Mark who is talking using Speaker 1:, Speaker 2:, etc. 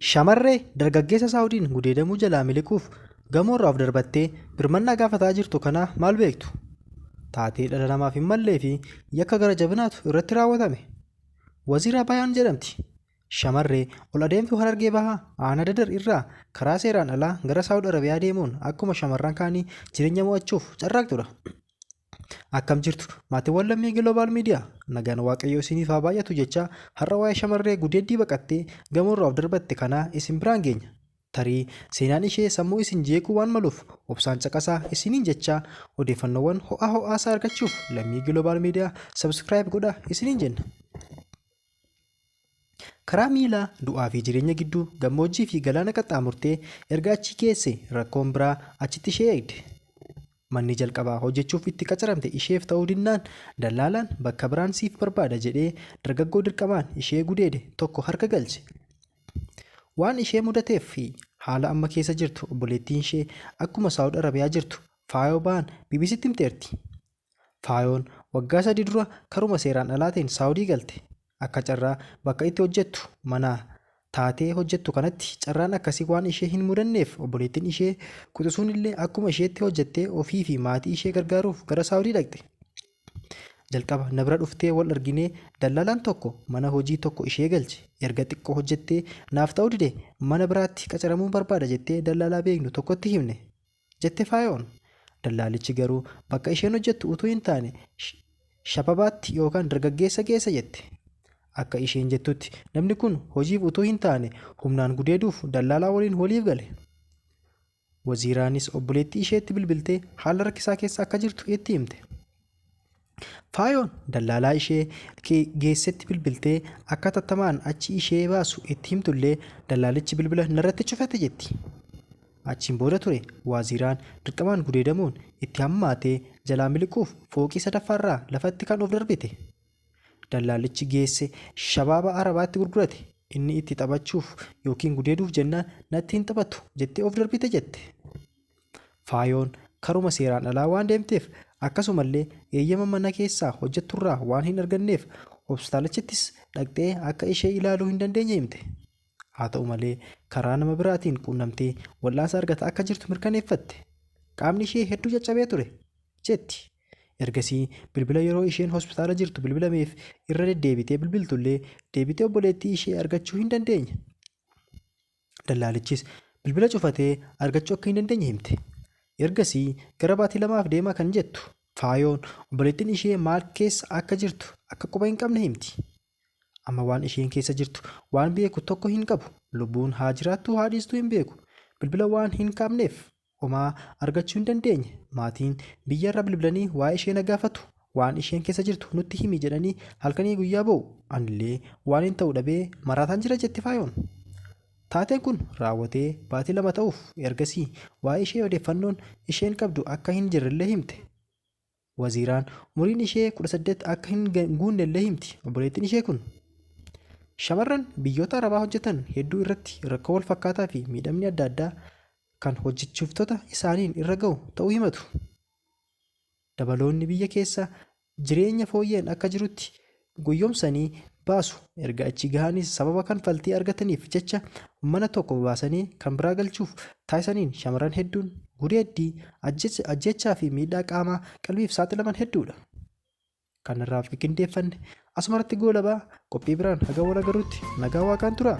Speaker 1: Shamarree dargaggeessa Saawudiin gudeedamuu jalaa miliquuf gamoorraa of darbattee birmannaa gaafataa jirtu kanaa maal beektu? Taatee dhala namaaf hin mallee fi yakka gara jabinaatu irratti raawwatame. Waziiraa Bayaan jedhamti. Shamarree ol adeemtuu Harargee Bahaa aanaa Dadar irraa karaa seeraan alaa gara Saawud Arabiyaa deemuun akkuma shamarran kaanii jireenya mo'achuuf carraaqxudha. Akkam jirtu maatiiwwan lammii Global Media nagaan waaqayyoo isiniif haa baay'atu jechaa har'a waa'ee shamarree gudeeddii baqattee gamoorraa of darbatte kanaa isin biraan geenya. Tarii seenaan ishee sammuu isin jeequu waan maluuf obsaan caqasaa isiniin jechaa odeeffannoowwan ho'aa ho'aasaa argachuuf lammii Global Media subscribe godhaa isiniin jenna. Karaa miilaa du'aa fi jireenya gidduu gammoojjii fi galaana qaxxaamurtee erga achii geesse rakkoon biraa achitti ishee eegde. Manni jalqabaa hojjechuuf itti qacaramte isheef ta'uu dinnaan dallaalaan bakka biraan siif barbaada jedhee dargaggoo dirqamaan ishee gudeede tokko harka galche. Waan ishee mudateef fi haala amma keessa jirtu obboleettiin ishee akkuma Saawud Arabiyaa jirtu Faayoo Baan BBCtti himteerti. Faayoon waggaa sadii dura karuma seeraan alaatiin Saawudii galte. Akka carraa bakka itti hojjettu manaa taatee hojjettu kanatti carraan akkasii waan ishee hin mudanneef obboleettiin ishee quxisuunillee akkuma isheetti hojjettee ofii fi maatii ishee gargaaruuf gara Saawudii dhaqxe. Jalqaba na bira dhuftee wal arginee dallalaan tokko mana hojii tokko ishee galche. Erga xiqqoo hojjettee naaf ta'uu dide mana biraatti qacaramuun barbaada jettee dallaalaa beeknu tokkotti himne. jette Faayoon. Dallaalichi garuu bakka isheen hojjettu utuu hin taane Shababaatti yookaan dargaggeessa geessa jette. Akka isheen jettutti namni kun hojiif utuu hin taane humnaan gudeeduuf dallaalaa waliin waliif gale. Waziiraanis obboleettii isheetti bilbiltee haala rakkisaa keessa akka jirtu itti himte. Faayoon dallaalaa ishee geessetti bilbiltee akka tattamaan achi ishee baasu itti himtullee dallaalichi bilbila narratti cufate jetti. Achiin booda ture waaziiraan dirqamaan gudeedamuun itti hammaatee jalaa miliquuf fooqii sadaffaarraa lafatti kan of darbite. Dallaalichi geesse shabaaba arabaatti gurgurate inni itti taphachuuf yookiin gudeeduuf jennaan natti hin taphatu jettee of darbite jette. Faayoon karuma seeraan alaa waan deemteef akkasumallee eeyyama mana keessaa hojjetturraa waan hin arganneef hopstaalachittis dhaqxee akka ishee ilaaluu hin dandeenye himte. Haa ta'u malee karaa nama biraatiin quunnamtee wal'aansa argataa akka jirtu mirkaneeffatte. Qaamni ishee hedduu caccabee ture, jetti. Ergasii bilbila yeroo isheen hospitaala jirtu bilbilameef irra deddeebitee bilbiltullee deebitee obboleettii ishee argachuu hin dandeenye. Dallaalichis bilbila cufatee argachuu akka hin dandeenye himte. Ergasii gara baatii lamaaf deema kan jettu Faayoon obboleettiin ishee maal keessa akka jirtu akka quba hin qabne himti. Amma waan isheen keessa jirtu waan beeku tokko hin qabu. Lubbuun haa jiraattuu haa dhiistuu hin beeku. Bilbila waan hin qabneef Homaa argachuu hin dandeenye. Maatiin biyyarra bilbilanii waa'ee ishee na gaafatu. Waan isheen keessa jirtu nutti himi jedhanii halkanii guyyaa boo'u. Anillee waaniin ta'u dhabee maraataan jira jetti Faayoon. Taateen kun raawwatee baatii lama ta'uuf ergasii waa'ee ishee odeeffannoon isheen qabdu akka hin jirrellee himte. Waziiraan umuriin ishee 18 akka hin guunnellee himti obboleettiin ishee kun. Shamarran biyyoota Arabaa hojjetan hedduu irratti rakkoo wal fakkaataa fi miidhamni adda addaa kan hojjechiiftota isaaniin irra ga'u ta'uu himatu. Dabaloonni biyya keessa jireenya fooyya'een akka jirutti goyyomsanii baasu. Erga achi gahaniis sababa kanfaltii argataniif jecha mana tokko baasanii kan biraa galchuuf taasisaniin shamarran hedduun gudeeddii, ajjeechaa fi miidhaa qaamaa qalbiif saaxilaman hedduudha. Kan irraaf qindeeffanne asumarratti goolabaa qophii biraan haga wal agarrutti nagaa waaqaan turaa.